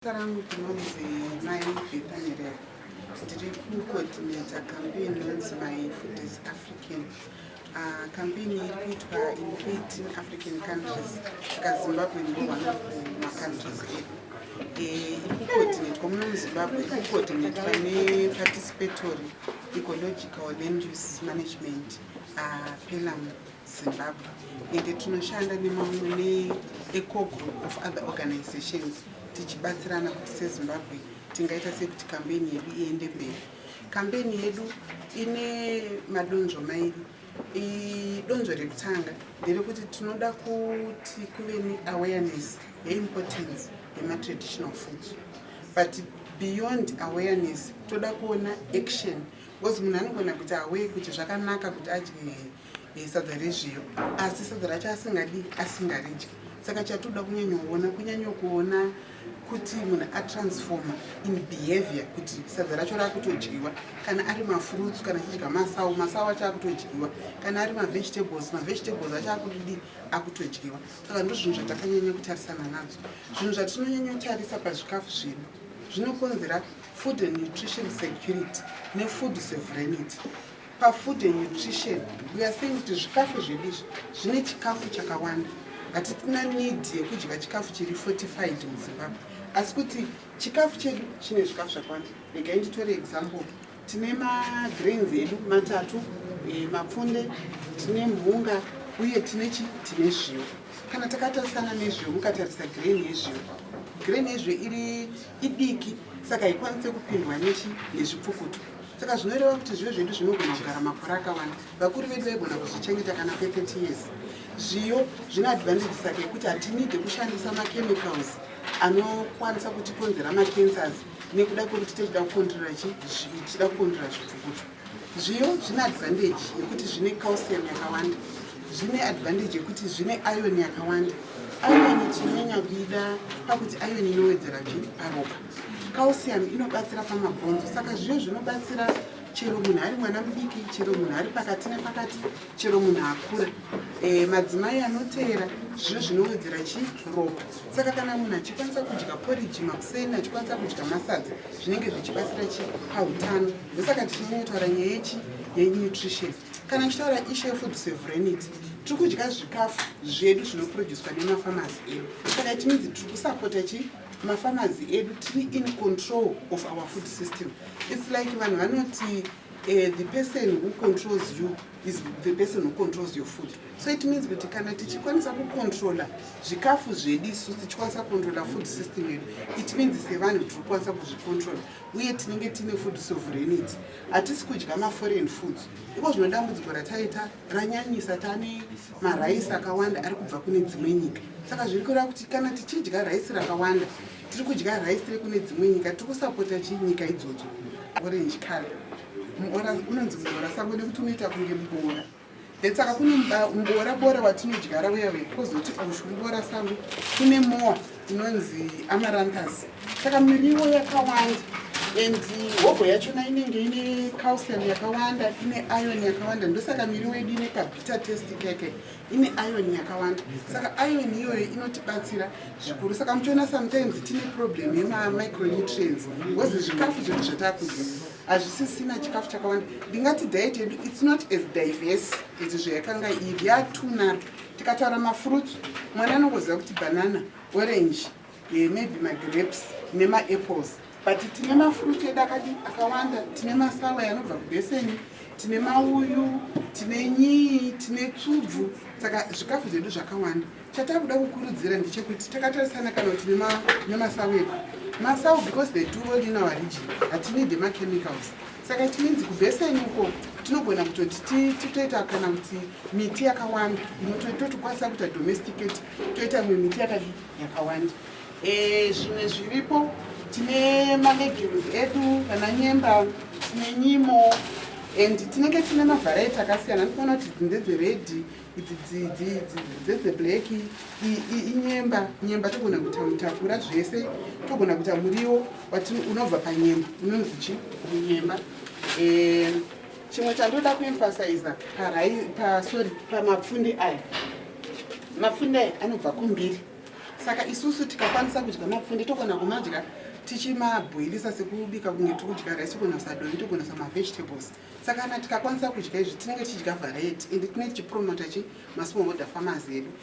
Zita rangu ndinonzi Mai Bethanyerera. Ndiri kucoordinator campaign inonzi My Food is African. Uh, campaign iri kuitwa in 18 African countries saka Zimbabwe ndo one of macountries edu. Eh, iri kucoordinatwa muno muzimbabwe iri kucoordinatwa neparticipatory ecological land use management uh, ah, pelam Zimbabwe ende tinoshanda nemamwe neecogroup of other organizations tichibatsirana kuti sezimbabwe tingaita sekuti kambeni yedu iende mberi kambeni yedu ine madonzvo mairi idonzvo rekutanga nderekuti tinoda kuti kuve neawareness yeimportance yematraditional foods but beyond awareness toda kuona action because munhu anogona kuita away kuti zvakanaka kuti adye eh, sadza rezviyo asi sadza racho asingadi asingaridyi saka chatoda kunyanyoona kunyanyokuona kuti munhu atransforma in behavior kuti sadza racho raakutodyiwa kana ari mafruits kana achidya masawu masawu acho akutodyiwa kana ari mavegetables mavegetables acho akudidi akutodyiwa saka ndo zvinhu zvatakanyanya kutarisana nadzo zvinhu zvatinonyanya kutarisa pazvikafu zvedu zvinokonzera food and nutrition security nefood sovereignity PaFood and Nutrition we are saying kuti zvikafu zvedu izvi zvine chikafu chakawanda. Hatitina need yekudya chikafu chiri fortified muZimbabwe. Asi kuti chikafu chedu chine zvikafu zvakawanda. Regai nditore example. Tine magrains edu matatu, e, mapfunde, tine mhunga uye tine chi tine zviyo. Kana takatarisana nezviyo mukatarisa grain yezviyo. Grain yezviyo iri idiki saka haikwanise kupindwa nechi nezvipfukuto. saka zvinoreva kuti zviyo zvedu zvinogona kugara makore akawanda vakuru vedu vaigona kuzvichengeta kana kwe 30 years zviyo zvine advantage saka yekuti hatinide kushandisa machemicals anokwanisa kutikonzera macancers nekuda kwekuti tichida kukontrola chi tichida kukontrola zvipfukuto zviyo zvine advantage yekuti zvine calcium yakawanda zvine advantage yekuti zvine iron yakawanda iron tinyanya kuida pakuti iron inowedzera zvi paropa Calcium inobatsira pamabhonzo saka zviyo zvinobatsira chero munhu ari mwana mudiki chero munhu ari pakati nepakati chero munhu akura e, madzimai anoteera zviyo zvinowedzera chi ropa saka kana munhu achikwanisa kudya poriji makuseni achikwanisa kudya masadza zvinenge zvichibatsira chi pautano ndosaka tichinyanyotaura nyaya yechi yenutrition kana ndichitaura ishe food severenity tiri kudya zvikafu zvedu zvinoproducwa nemafamasi edu saka itinidzi tiri kusapota chi mafamazi edu tiri in control of our food system its like vanhu vanoti uh, the person who controls you is the person who controls your food so it means kuti kana tichikwanisa kucontrola zvikafu zvedu isu tichikwanisa kucontrola food system yedu it means sevanhu tiri kukwanisa kuzvicontrola uye tinenge tiine food sovereignity hatisi kudya maforeign foods iko zvinodambudziko rataita ranyanyisa tane maraisi akawanda ari kubva kune dzimwe nyika saka zviri kureva kuti kana tichidya raisi rakawanda tiri kudya raisi rekune dzimwe nyika tiri kusapota chii nyika idzodzo orange color muora unonzi muora sango nekuti unoita kunge muboora then saka kune muboora boora watinodyara uya uya kozoti oshu muboora sango kune moa inonzi amaranthus saka miriwo yakawanda and hogo yachona inenge ine calcium yakawanda ine iron yakawanda ndosaka miriwo yedu ine kabita test keke ine iron yakawanda saka iron iyoyo inotibatsira zvikuru saka muchiona sometimes tine problem yemamicronutrients bcause zvikafu zvedu zvatakudya hazvisisina chikafu chakawanda ndingati diet yedu its not as diverse as zvayakanga iri yatuna Tikataura mafruits mwana anongoziva kuti banana, orange, eh, maybe magrapes nemaapples but tine mafruits edu akadi akawanda tine masawe anobva kubeseni tine mauyu tine nyii tine tsubvu saka zvikafu zvedu zvakawanda chatakuda kukurudzira ndechekuti takatarisana kana kuti nemasawu edu masawu because they do all in our region hatinide machemicals saka tinenzi kubheseni uko tinogona kutoti titoita kana kuti miti yakawanda inototokwanisa kuita domesticate toita mwe miti yakadii yakawanda eh, zvimwe zviripo tine malegumes edu kana nyemba tine nyimo and tinenge tine mavharaiti akasiyana ndikuona kuti ndedzeredhi idzi dzidzi dzedze black inyemba nyemba togona kuita mutakura zvese togona kuita muriwo but unobva panyemba unonzi chi nyemba eh, chimwe chandoda kuemphasiza pasori pamapfunde aya mapfunde aya anobva kumbiri saka isusu tikakwanisa kudya mapfunde togona kumadya tichimabhoilisa sekubika kunge tikudya rice togona kusadovi togona samavegetables saka kana tikakwanisa kudya izvi tinenge tichidya variety and tinenge tichipromota chi masmall holder farmers edu